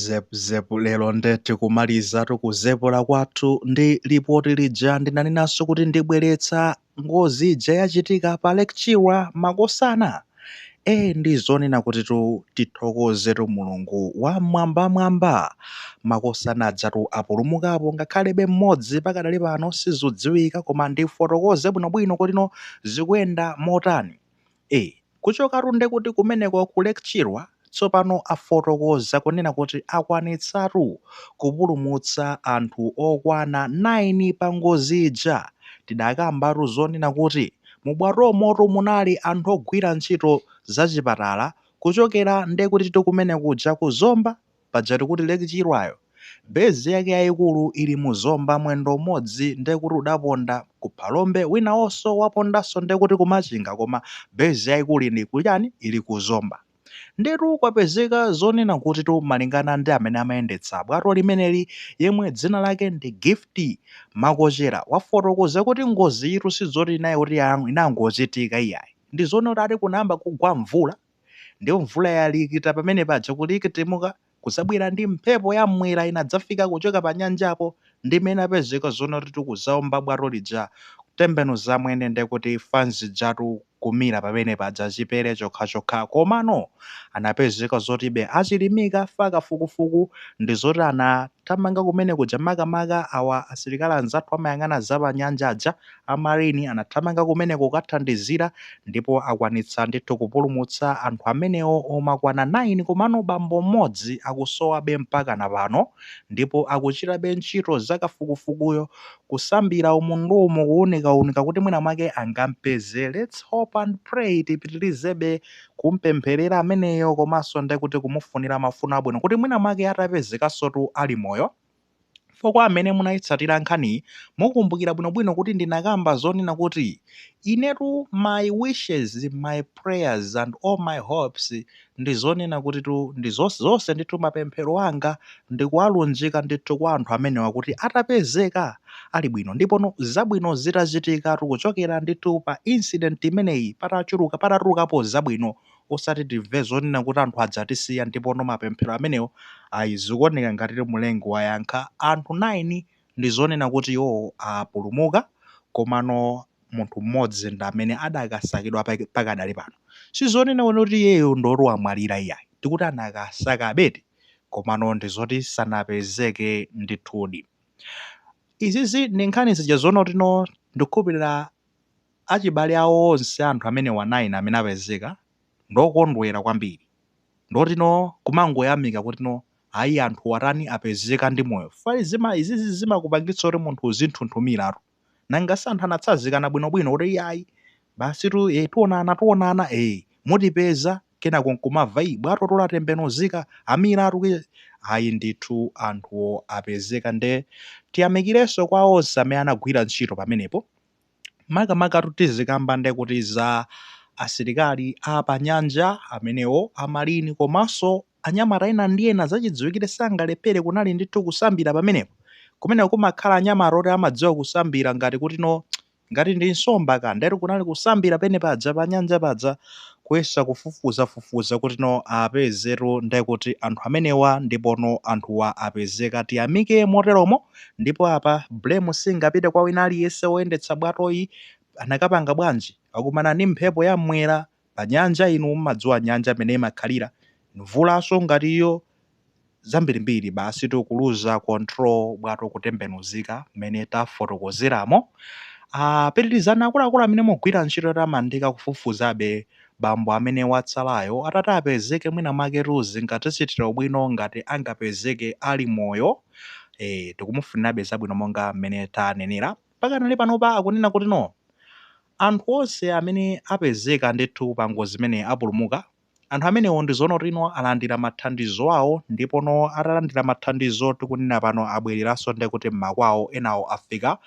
Zep zep lero nde tikumalizatu kuzepula kwathu ndi lipoti lija ndinanenanso kuti ndibweretsa ngozi ija yachitika pa Lake Chilwa makosana e ndizonena kuti tu tithokozetu mulungu wa mwambamwamba makosana anzathu apulumukapo ngakhalebe mmodzi pakadali pano sizudziwika koma ndifotokoze bwinobwino kotino zikuyenda motani e. Kuchokatu nde kuti kumeneko ku Lake Chilwa tsopano afotokoza kunena kuti akwanitsatu kupulumutsa anthu okwana 9 pa ngozi ija tidakambatu zonena kuti mu bwatomotu munali anthu ogwira ntchito za chipatala kuchokera nde kutitu kumene kuja ku Zomba paja tikuti Lake Chilwayo base yake yaikulu ili mu Zomba mwendo umodzi ndekuti udaponda ku Phalombe winawoso wapondaso ndekuti ku Machinga koma base yaikulu ili ku chani ili ku Zomba ndetu kwapezeka zonena kutitu malingana ndi amene amayendetsa bwato limeneli yemwe dzina lake ndi Gift Makochera wafotokoza kuti ngoziyitu sizoti inangochitika iyayi ndi zonati ati kunayamba kugwa mvula Ndiyo mvula yalikita pamene paja kulikitimuka kuzabwera ndi mphepo ya mwera inadzafika kuchoka pa nyanjapo nde mwapezeka zonati kuzaomba bwato lija kutembenuza mwene nde kuti fanzi ijatu kumira pamene paja chipere chokha chokha komano anapezeka zoti be achilimika fa kafukufuku ndi zoti anathamanga kumene kuja makamaka awa asilikali anzathu amayang'ana za pa nyanja A Marine anathamanga kumeneko kukathandizira ndipo akwanitsa ndithu kupulumutsa anthu amenewo omakwana 9 komano bambo mmodzi akusowabe mpakana pano ndipo akuchitabe ntchito za kafukufukuyo kusambira umundumu kuunikaunika kuti mwina mwake angampeze let's hope and pray tipitilizebe kumpemphelera ameneyo komanso ndekuti kumufunira mafuno abwino kuti mwina mwake atapezekasotu ali moyo Ndipo kwa amene munaitsatira nkhaniyi, mukumbukira bwino-bwino kuti ndinakamba zonena kuti, Inetu my wishes, my prayers and all my hopes ndi zonena kutitu ndi zonse, zonse ndithu mapemphero anga ndikuwalunjika ndithu kwa anthu amenewa kuti atapezeka ali bwino ndipono zabwino zitachitikatu kuchokera ndithu pa incident imeneyi patachuluka, patatulukapo zabwino osati timve zonena kuti anthu adzatisiya ndipono mapemphero amenewo ayi zikuoneka ngatiti Mlengi wayankha anthu 9 ndi zonena kuti iwowo apulumuka komano munthu mmodzi ndi amene adakasakidwa pakadali pano sizonena kuti iyeyo ndi oti wamwalira iyayi tikuti anakasakabedi komano ndi zoti sanapezeke ndithudi izizi ndi nkhani zija zoona kutino ndikukhulupilira Achibale awo onse a anthu amenewa 9 amene apezeka ndi okondwera kwambiri. Ndipotu no kumangoyamika kuti no ayi anthuwa atani apezeka ndi moyo fukwa zima izizi zimakupangitsa kuti munthu uzinthunthumiratu. Nanga si anthu anatsazikana bwinobwino kuti iyayi basitu ee tionana tionana ee mutipeza kenako n'kumamva ii bwatoto latembenuzika amiratu ki Ayi ndithu anthuwo apezeka nde tiyamikirenso kwa onse amene anagwira ntchito pamenepo. Makamakatu tizikamba nde kuti za asilikali a panyanja amenewo, a Marine komanso anyamata ena ndi ena, zachidziwikire sangalephere, kunali ndithu kusambira pamenepo. Kumeneko kumakhala anyamata oti amadziwa kusambira ngati kutino ngati ndi nsomba ka, ndetu kunali kusambira penepaja panyanja paja kuyesa kufufuzafufuza kutino apezetu nde kuti anthu amenewa ndipono anthuwa apezeka. Tiyamike moteromo. ndipo apa blame singapite kwa wina aliyense woyendetsa bwatoyi anakapanga bwanji akumana ndi mphepo ya mmwera pa nyanja inu mmadziwa nyanja mene imakhalira mvulanso ngati iyo zambirimbiri basi tu kuluza control bwato kutembenuzika mmene tafotokozeramo Ah, pitirizani akuluakulu amene mukugwira ntchito yotamandika kufufuzabe bambo amene watsalayo atati apezeke mwina mwaketu zingatichitire ubwino ngati angapezeke ali moyo eh, tikumufunirabe zabwino monga mmene tanenera pakanali panopa akunena kuti no anthu onse amene apezeka ndithu pa ngozi imene apulumuka anthu amenewo ndi zoona kuti no alandira mathandizo awo ndipono atalandira mathandizo tikunena pano abwereranso ndiye kuti m'makwawo enawo afika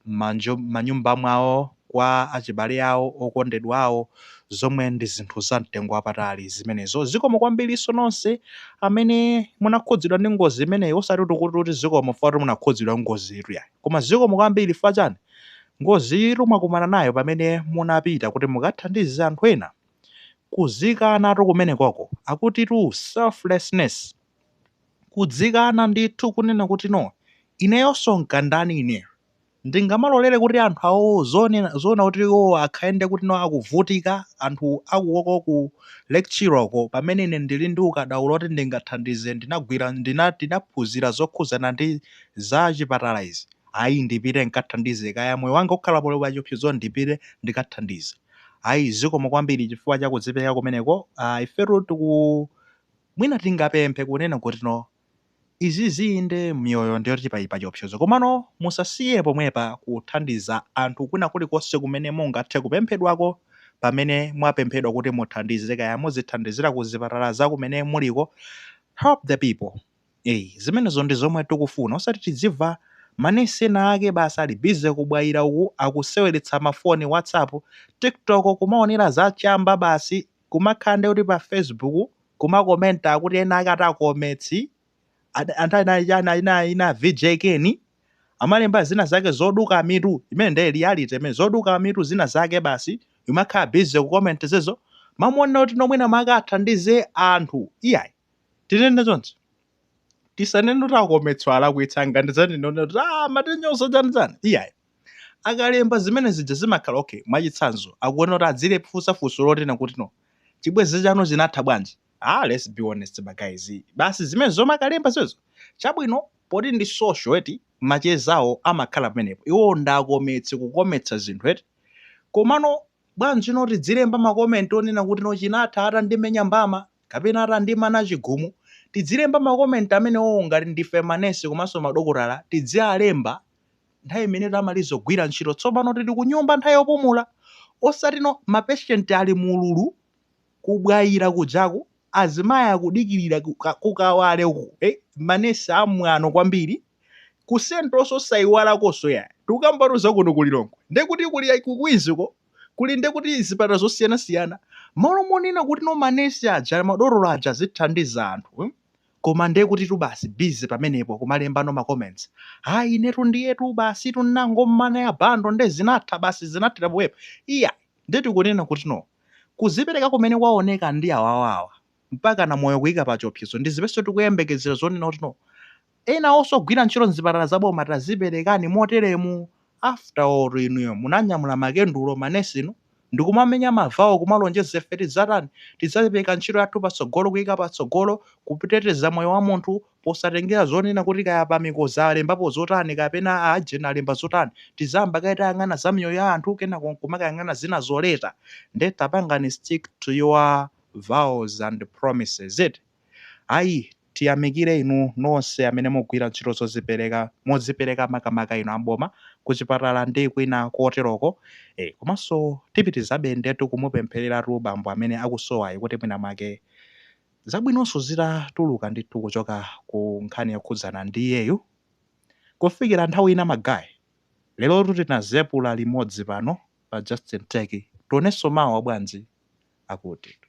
manyumba mwawo kwa achibale awo, okondedwa awo, zomwe ndi zinthu za mtengo wapatali zimenezo. Zikomo kwambirinso nonse amene munakhudzidwa ndi ngozi imeneyi, osati kuti kuti kuti zikomo chifukwa choti munakhudzidwa ndi ngoziyitu yayi, koma zikomo kwambiri chifukwa chani, ngoziyitu mwakumana nayo pamene munapita kuti mukathandize anthu ena, kudzikanatu kumenekoko, akutitu selflessness, kudzikana ndithu kunena kuti no, ineyonso nkandani ineyo? Ndingamalolere kuti anthu awowo zoona zoona kuti iwowo akhale nde kuti no akuvutika anthu akuwoko ku Lake Chilwako pamene ine ndili ndi ukadaulo oti ndingathandize ndinagwira ndina ndinaphunzira zokhudzana ndi za chipatala izi ayi ndipite nkathandize kaya moyo wanga ukhala poli pachiopsezo ndipite ndikathandize ayi zikomo kwambiri chifukwa cha kudzipeleka kumeneko aah ifetu tiku mwina tingapemphe kunena kuti no Izi inde miyoyo ndiyoti pali pachiopsezo komano musasiye pomwepa kuthandiza anthu kwina kulikonse kumene mungathe kupemphedwako pamene mwapemphedwa kuti muthandize kaya muzithandizira kuzipatala zakumene muliko help the people eeh zimenezo ndizomwe tikufuna osati tidzimva manesi ena ake basi ali busy ku Bwaila uku akuseweretsa mafoni whatsapp tiktok kumaonera zachamba basi kumakhala ndiye kuti pa facebook kumakomenta akuti ena ake ati akometsi a- anthu ena chana ina ina vj keni amalemba zina zake zoduka mitu imene ndiye reality imene zoduka mitu zina zake basi imakhala busy kukomenta zizo mmalo monena kuti no mwina makathandize anthu iyayi tinene zonse tisanene kuti akometso alakwitsa nchani zonena kuti ah matenyoso chanizani iyayi Akalemba zimene zija zimakhala okay. Mwachitsanzo, akuona kuti adziwafunsa funso lonena kuti no. Chibwenzi chanu chinatha bwanji? Ah, let's be honest ma guys. Basi zimene zomwe akalemba zimenezo. Chabwino, poti ndi social eti, macheza awo amakhala pamenepo. Iwo ndakometsi kukometsa zinthu eti. Komano bwanji no tidzilemba ma comment onena kuti no chinatha atandimenya mbama kapena atandimana chigumu. Tidzilemba ma comment amene wo ngati ndife manesi komanso madokotala tidzialemba nthawi imene tamaliza kugwira ntchito tsopano tili kunyumba nthawi yopumula osati no ma patient ali mu ululu ku Bwaila kujaku azimayi akudikilira ku ka- ku Kawale uku eh, ma nurse amwano kwambiri ku central nso osaiwalakonso iyayi tikukambatu za kuno ku Lilongwe nde kuti kuli ya- ku Queens ko kuli nde kuti zipatala zosiyanasiyana mmalo monena kuti no ma nurse aja madotolo aja azithandiza anthu hmm? Koma nde kutitu basi busy pamenepo kumalembano ma comments ayi inetu ndiyetu basitu nnangomana ya bundle nde zinatha basi zinathera pomwepo iyayi nde tikunena kuti no kuzipereka kumene kwaoneka ndi awawa awa mpakana moyo kuika pachiopsezo ndi zimenenso tikuyembekezera zonena kuti no enawoso ogwira ntchito mzipatala za boma taziperekani moteremu after all inuyo munanyamula makendulo manesi inu ndikumamenya mavao kumalonjeza ife tidzatani tidzapereka ntchito yathu patsogolo kuika patsogolo kuteteza moyo wa munthu posatengera zonena kuti kaya pa mikozi alembapo zotani kapena a agent alemba zotani tidzayamba kaye tayang'ana za miyoyo ya anthu kenako nkumakayang'ana zinazo later nde tapangani stick to your vows and promises eti ayi Tiyamikire inu nonse amene mukugwira ntchito zozipereka, modzipereka makamaka inu a m'boma, kuchipatala ndi kwina koteroko, ee, komanso tipitirizabe indetu kumupemphereratu bambo amene akusowayu kuti mwina mwake zabwinonso zitatuluka ndithu kuchoka ku nkhani yokhudzana ndi iyeyu. Kufikira nthawi ina ma guy, lero tutinazepula limodzi pano pa Just Ntech, tionenso mawa bwanji? Akutitu.